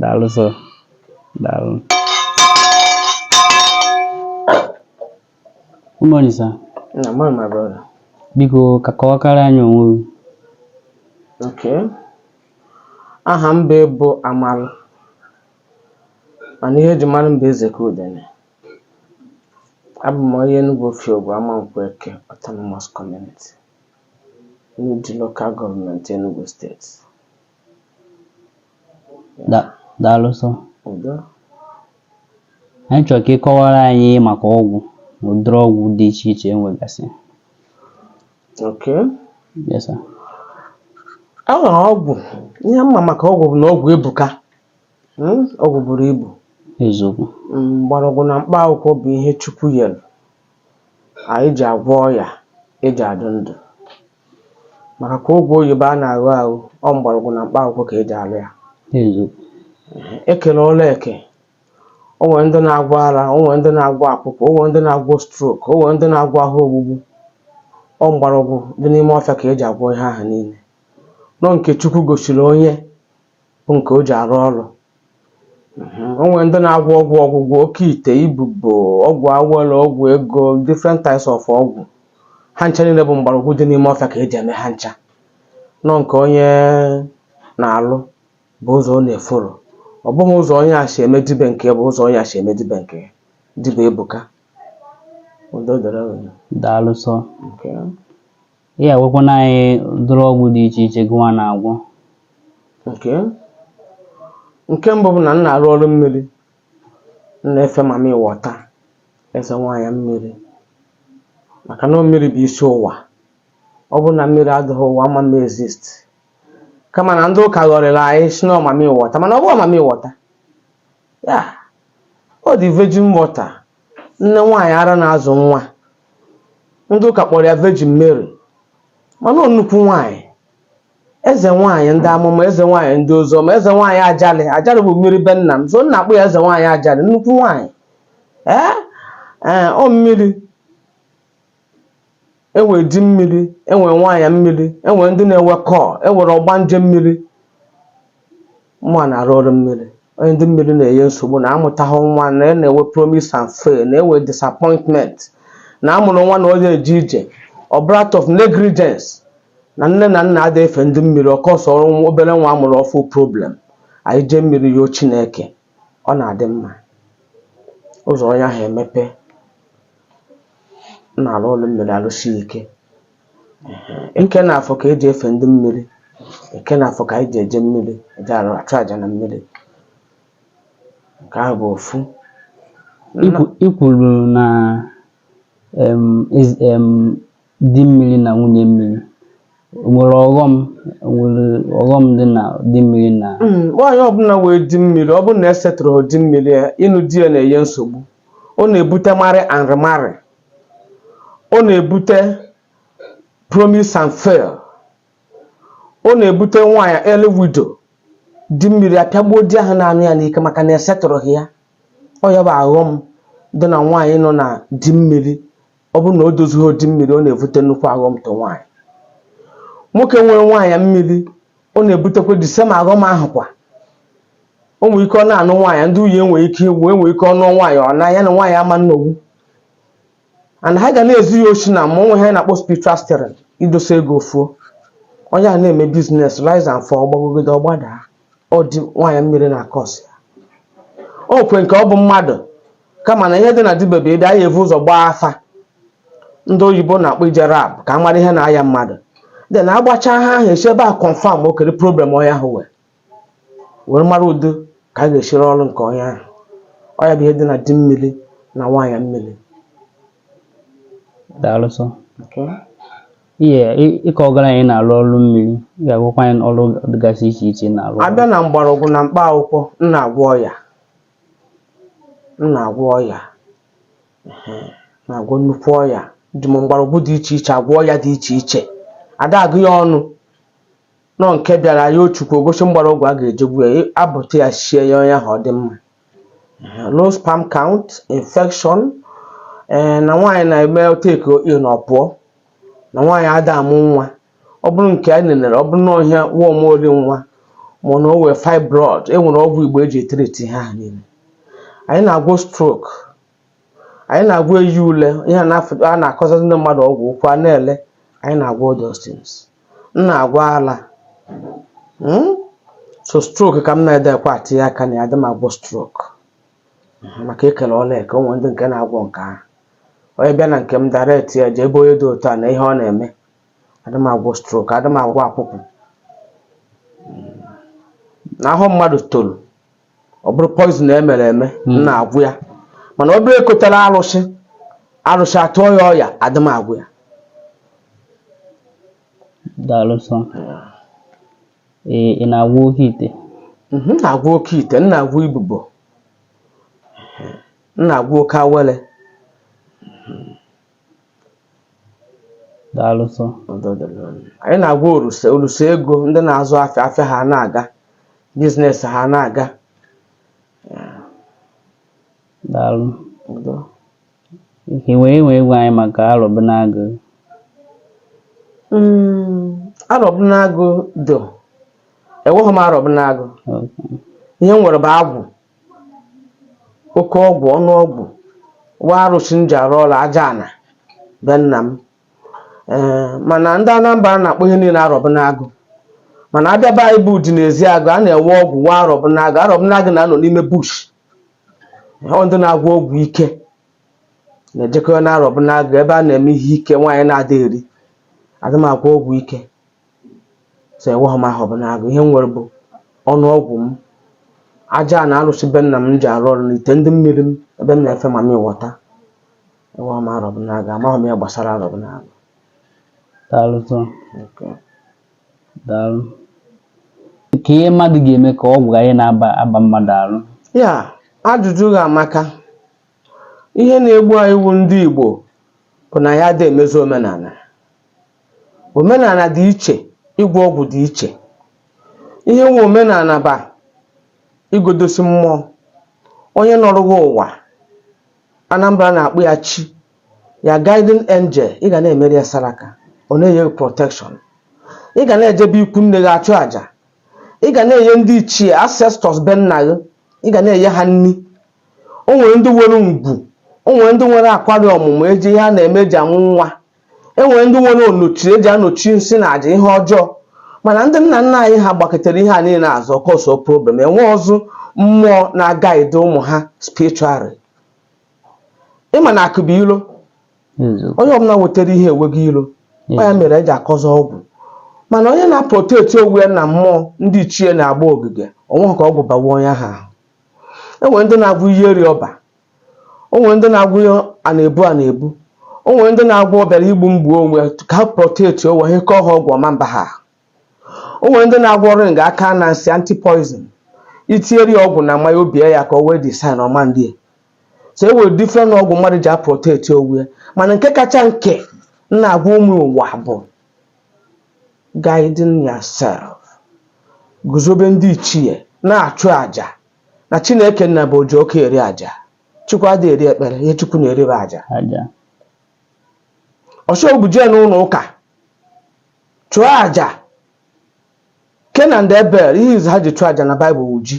daalụ sọ daalụ good morning sir nnọọ my brother biko ka kọwakwara anyị onwe gị ok aha m bụ bụ Amalụ mana ihe eji mara m bụ eze ka udene abụ m onye Enugu Ofiogbu Amankwọ Eke Autonomous Community n'Udi Local Government Enugu State Da- Daalụ sọ. Udo. Anyị chọrọ ka ị kọwara anyị maka ọgwụ na ụdịrị ọgwụ dị iche iche e nwegasị. Okay. Yes, sir. Ọgwụ. Ihe m ma maka ọgwụ bụ na ọgwụ ebuka. Mm, Ọgwụ buru ibu. Eziokwu. Mm, Mgbọrọgwụ na mkpa akwụkwọ bụ ihe Chukwu yere anyị ji agwọ ọya eji adụ ndụ. Maka kwa ọgwụ oyibo a na-aṅụ aṅụ, ọ mgbọrọgwụ na mkpa akwụkwọ ka e ji alụ ya. E kere ọrụ eke, o nwere ndị na-agwọ ara, o nwere ndị na-agwọ akwụkwụ, o nwere ndị na-agwọ stroke, o nwere ndị na-agwọ ahụ ogbugbu. Ọ mgbọrọgwụ dị n'ime ọfịa ka e ji agwọ ihe ahụ niile. Na ọ nke Chukwu gosiri onye bụ nke o ji arụ ọrụ Mhm. o nwere ndị na-agwọ ọgwụ ọgwụgwọ oke ite ibubo ọgwụ awele ọgwụ ego different types of ọgwụ ha ncha niile bụ mgbọrọgwụ dị n'ime ọfịa ka eji eme ha ncha na ọ nke onye na-alụ bụ ụzọ ọ na-efollow ọ bụghị ụzọ onye a si eme dibe nke ya bụ ụzọ onye a si eme dibe nke ya dibe ebuka udo dịrị unu. daalụ sọ Okay. Ị ya-agwakwanụ anyị ụdịrị ọgwụ dị iche iche gụwa na-agwọ. Okay nke mbụ bụ na m na-arụ ọrụ mmiri m na-efe mami wọta eze nwaanyị mmiri maka na mmiri bụ isi ụwa ọ bụrụ na mmiri adịghị ụwa ama exist kama na ndị ụka ghọrịla anyị sị na ọ mami wọta mana ọ bụghị mami wọta ya ọ the virgin water nne nwaanyị ara na-azụ nwa ndị ụka kpọrọ ya Virgin Mary mana ọ nnukwu nwaanyị eze nwaanyị ndị amụma eze nwaanyị ndị oziọma eze nwaanyị Ajalị Ajalị bụ mmiri be nna m so m na-akpọ ya eze nwaanyị Ajalị nnukwu nwaanyị ee ee ọ mmiri e nwere di mmiri e nwere nwaanyị mmiri e nwere ndị na-enwe call e nwere ọgbanje mmiri mụwa na-arụ ọrụ mmiri onye ndị mmiri na-enye nsogbu na-amụtaghị nwa na-enwe promise and fail na-enwe disappointment na a mụrụ nwa na onye eje ije ọ bụrụ out of negligence na nne na nna ada efe ndị mmiri ọ causeọrọ obere nwa a mụrụ ọfụụ problem anyị jee mmiri yọọ Chineke ọ na-adị mma ụzọ onye ahụ emepe na-alụ ọlụ mmiri alụsi ike Ehe. eke na afọ ka eji efe ndị mmiri eke na afọ ka anyị ji eje mmiri eje arụ achụ aja na mmiri nke ahụ bụ ofu Ikwu- i kwuru na em, ezi- em, di mmiri na nwunye mmiri nwere ọghọm nwere ọghọm dị na di mmiri na hmm, nwaanyị ọbụla wee di mmiri ọ bụrụ na esetụrụghị di mmiri ya ịnụ di ya na-enye nsogbu ọ na-ebute marry and remarry ọ na-ebute promise and fail ọ na-ebute nwaanyị early widow di mmiri apịagbuo di ahụ na-anụ ya n'ike maka na esetụrụghị ya ọ ya bụ aghọm dị na nwaanyị nọ na di mmiri ọ bụrụ na o dozighị di mmiri ọ na-ebute nnukwu aghọm to nwaanyị nwoke nwere nwaanyị mmiri ọ na-ebutekwa the same aghọm ahụ kwa o nwere ike ọ na-anụ nwaanyị ndị nwunye nwere ike ịnwụ enwere ike ọ nụ nwaanyị ọ na ya na nwaanyị ama nnogbu and ha ga na-ezi ya oshi na mmụọ ihe a na-akpọ spiritual stealing i dosa ego o fuo onye a na-eme business rise and fall gbagogide ọ gbada ọ ndị nwaanyị mmiri na-acause ya o nwe nke ọ bụ mmadụ kama na ihe dị na dibịa bụ ị bịa anyị evu ụzọ gbaa afa ndị oyibo na-akpọ ije lab ka a mara ihe na-aya mmadụ then agbacha afa ahụ esi ebe a confirm okere problem onye ahụ wee were mara ụdị ka a ga-esi rụ ọrụ nke onye ahụ ọ ya bụ ihe dị na di mmiri na nwaanyị mmiri daalụ so ihe ị- ị ka gwara anyị na-alụ ọrụ mmiri ị ga-agwakwa anyị ọrụ dịgasị iche iche ị na-alụ abịa na mgbọrọgwụ na mkpa akwụkwọ m na-agwọ ọya m na-agwọ ọya na-agwọ nnukwu ọya eji m mgbọrọgwụ dị iche iche agwọ ọya dị iche iche ada agụ ya ọnụ nọ nke bịara ya chukwu egosi mgbọrọgwụ a ga-eji egbu ya abụta ya sie ya onye ahụ ọ dị mma low sperm count infection ee na nwaanyị na-eme o take in ọ pụọ na nwaanyị ada amụ nwa ọ bụrụ nke a nenere ọ bụrụ na ọ ihe a worm ori nwa ma na o wee fibroid e nwere ọgwụ igbo eji etriti ha niile anyị na-agwọ stroke anyị na-agwọ enyi ule ihe a na-akọzazị ndị mmadụ ọgwụ ụkwụ a na-ele anyị na-agwọ all those things m na-agwọ ala hmm? sọ stroke ka m na-adịkwa atinye aka na ya adị m agwọ stroke maka ekele ọlụ eke o nwe ndị nke na-agwọ nke ahụ onye bịa na nke m direct ya jee ebe onye dị otu a na ihe ọ na-eme adị m agwọ strok adị m agwọ akwụkwụ na ahụ mmadụ toro ọ bụrụ poizin e mere eme m na-agwọ ya mana ọ bụrụ e kotara arụsị arụsị atụọ ya ọya adị m agwọ ya daalụ sọ ee ị na-agwọ oke ite Mhm, m na-agwọ oke ite m na-agwọ ibobo m na-agwọ oke awele daalụ sọ anyị na-agwọ oruse oruse ego ndị na-azụ afịa afịa ha na-aga biznes ha na-aga daalụ Udo. nke wee wee gwa anyị maka arọbụnagụ Mm, arọbụnagụ do enweghị m arọbụnagụ ihe m nwere bụ agwụ oke ọgwụ ọnụ ọgwụ nwee arụsị m ji arụ ọrụ aja ana be nna m ee mana ndị Anambra na-akpọ ihe niile arọbụnagụ mana a bịa be anyị bụ Udi na Ezeagụ a na-enwe ọgwụ nwee arọbụnagụ arọbụnagụ na-anọ n'ime bush ọ ndị na-agwọ ọgwụ ike na-ejekọ na arọbụnagụ ebe a na-eme ihe ike nwaanyị na-ada eri adị m agwọ ọgwụ ike so enweghị m arọbụnagụ ihe m nwere bụ ọnụ ọgwụ m aja ana arụsị be nna m ji arụ ọrụ n'ite ndị mmiri m ebe m na-efe mami wọta enweghị m arọbụnagụ amaghị m ihe gbasara arọbụnagụ daalụ sọ Okay. daalụ kee ihe mmadụ ga-eme ka ọgwụ ghara ị na-aba mmadụ arụ ya ajụjụ gị amaka ihe na-egbu anyị wu ndị Igbo bụ na anyị adị emezi omenana Omenana dị iche, ịgwọ ọgwụ dị iche. Ihe wu omenana bụ ịgọdosi mmụọ. Onye nọrọ gị ụwa, Anambra na-akpọ ya chi, ya guardian angel, ị ga na-emere ya saraka, ọ na-enye gị protection. Ị ga na-eje be ikwu nne gị achụ aja. Ị ga na-enye ndị ichie, ancestors be nna gị, ị ga na-enye ha nni. O nwere ndị nwere ngwu, o nwere ndị nwere akwari ọmụmụ e ji ihe a na-eme e ji amụ nwa. e nwere ndị nwere onochi e ji anochi nsị na aja ihe ọjọọ mana ndị nna nna anyị ha gbakụtara ihe a niile azụ ọ kọsọ problem enwerọzị mmụọ na-agaide ụmụ ha spiritually ị ma na akụ bụ ilo onye ọbụla nwetara ihe enwego ilo ọ ya mere e ji akọzị ọgwụ mana onye na-aprotect onwe ya na mmụọ ndị ichie na-agba ogige o nwe ka ọgwụ bawa onye ahụ ahụ e nwere ndị na-agwọ ihe eri ọba o nwere ndị na-agwọ ya a na-ebu a na-ebu o nwere ndị na-agwọ ọ bịara igbu m gbuo onwe ka ha proteti onwe ha kọọ ha ọgwụ ọ ma mba ha o nwere ndị na-agwọ ring aka na nsị anti poison itinyere ya ọgwụ na mmanya o bie ya aka o wee design ọma ndị so e nwere different ọgwụ mmadụ ji aproteti onwe ya mana nke kacha nke m na-agwa ụmụ ụwa bụ guiding yourself guzobe ndị ichie na-achụ aja na chineke nna bụ oji ọkụ eri aja chukwu adịghị eri ekpere ihe chukwu na-eri bụ aja ọsọgbu jee n'ụlọ ụka chụọ aja cain and abel ihe izu ha ji chụọ aja na baịbụl wụ ji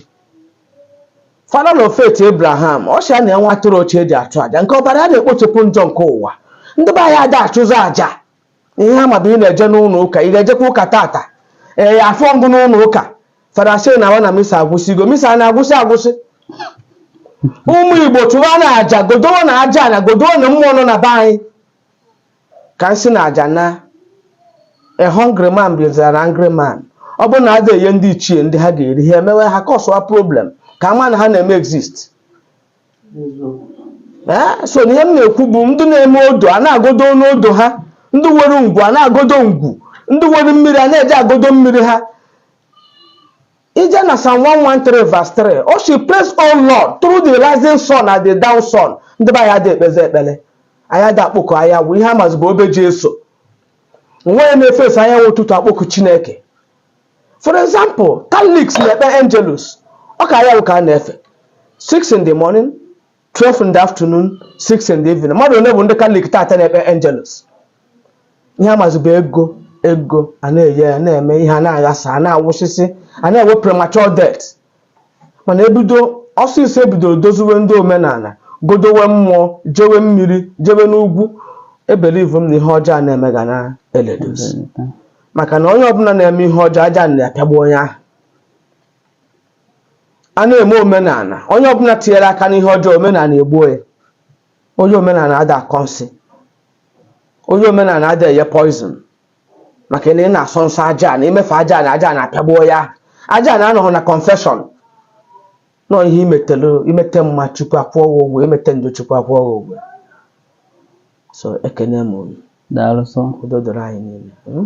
father of faith abraham ọ sị na nwa atụrụ ochie eji achụ aja nke ọbara ya na-ekpochapụ njọ nke ụwa ndị be anyị ada achụzi aja ihe a ma bụ ị na-eje n'ụlọ ụka ị ga-ejekwa ụka tata ee afụrọ m gị n'ụlọ ụka fada sị naawa na misa agwụsịgo misa a na-agwụsị agwụsị ụmụ igbo chụwanụ aja godowenu ajana godowenu mmụọ nọ na be anyị ka nsị na aja naa a hungry man is an angry man ọ bụrụ na ada enye ndị ichie nri ha ga-eri ha emewe ha kọsụwa problem ka a ma na ha na-eme exist so na ihe m na-ekwu bụ ndị na-eme odo a na-agodo n'odo ha ndị nwere ngwu a na-agodo ngwu ndị nwere mmiri a na-eje agodo mmiri ha i jee na Psalm 113 verse 3 ọ sị praise O Lord through the rising sun and the down sun ndị be anyị adị ekpezi ekpere anyị ada akpọku anyanwụ ihe a mazi bụ obe Jesu onweghị na-efezi anyanwụ ụtụtụ akpọku Chineke For example, Catholics na-ekpe Angelus, ọ ka anyanwụ ka a na-efe 6 in the morning, 12 in the afternoon, 6 in the evening. Mmadụ ole bụ ndị Catholic taata na-ekpe Angelus? Ihe a mazi bụ ego ego a na-enye ya na-eme ihe a na-aghasa a na-anwụsịsị a na-enwe premature death mana ebido ọsịsọ ebidoro doziwe ndị omenala godowe mmụọ jewe mmiri jewe n'ugwu ebelivu m na ihe ọjọọ a na-eme ga na-ereduce maka na onye ọbụla na-eme ihe ọjọọ ajana apịagbu onye ahụ a na-eme omenala onye ọbụla tinyere aka n'ihe ọjọọ omenala egbuo ya onye omenala ada akọ nsị onye omenala ada enye poison maka na ị na-asọ nsọ ajana imefe ajana ajana apịagbuo ya ajana anọghị na confession no ihe imetelu imete mma chukwu akwụọ gị ụgwọ imete njọ chukwu akwụọ gị ụgwọ so ekene m unu daalụ so udo dịrị anyị niile mm?